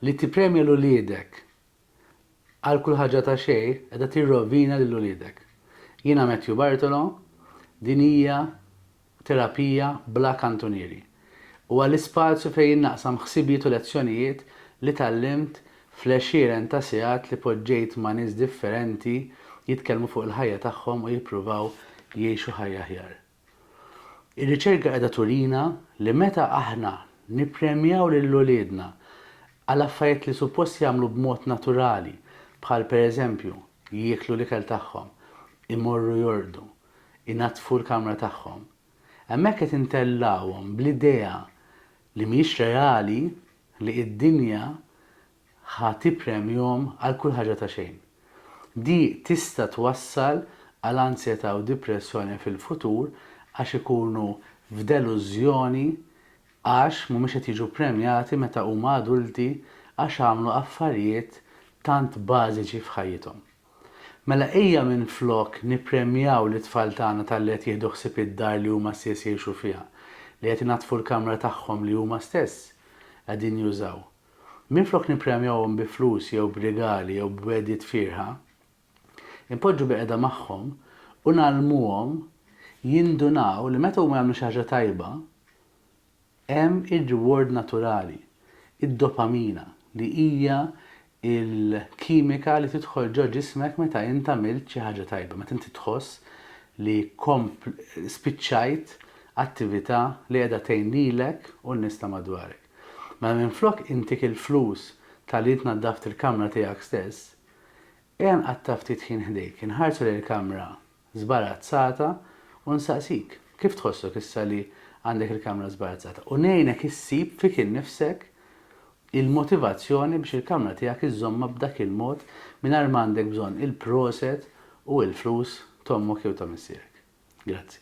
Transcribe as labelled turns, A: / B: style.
A: Li tippremja 'l uliedek għal kull ħaġa ta' xejn qiegħda tirrovina lil uliedek. Jiena Matthew Bartolo, din hija terapija bla kantunieri. Huwa l-ispazju fejn jien naqsam ħsibijiet u lezzjonijiet li tgħallimt fl-għexieren ta' sigħat li poġġejt ma' nies differenti jitkellmu fuq il-ħajja tagħhom u jippruvaw jgħixu ħajja aħjar. Ir-riċerka qiegħda turina li meta aħna nippremjaw lil uliedna għal affarijiet li suppost jagħmlu b'mod naturali bħal pereżempju jieklu l-ikel tagħhom, imorru jorqdu, inaddfu l-kamra tagħhom, hemmhekk qed intellgħuhom bl-idea li mhijiex reali li d-dinja Ħa tippremjhom għal kull ħaġa ta' xejn. Di tista' twassal għal ansjetà u dipressjoni fil-futur għax ikunu f'delużjoni għax mhumiex qed jiġu ppremjati meta huma adulti għax għamlu affarijiet tant bażiċi f'ħajjithom. Mela ejja minflok nippremjaw lit-tfal tagħna talli qed jieħdu ħsieb id-dar li huma stess jgħixu fiha, li qed inaddfu l-kamra tagħhom li huma stess qegħdin jużaw. Minflok nippremjawhom bi flus jew b'rigali jew b'wegħdiet fierħa, inpoġġu biqegħda magħhom u ngħallmuhom jindunaw li meta huma jagħmlu xi ħaġa tajba, hemm ir-reward naturali, id-dopamina, li hija l-kimika li tidħol ġo ġismek meta int għamilt xi ħaġa tajba, meta inti tħoss li spiċċajt attività li qiegħda tgħin lilek u n-nies ta' madwarek. Mela minflok intik il-flus talli tnaddaft il-kamra tiegħek stess, ejja nqatta' ftit ħin ħdejk, inħarsu lejn il-kamra żbarazzata u nsaqsik, kif tħossok issa li għandek il-kamra żbarazzata? U ngħinek issib fik innifsek il-motivazzjoni biex il-kamra tiegħek iżżommha b'dak il-mod mingħajr ma għandek bżonn il-proset u il-flus t'ommok jew ta' missierek. Grazzi.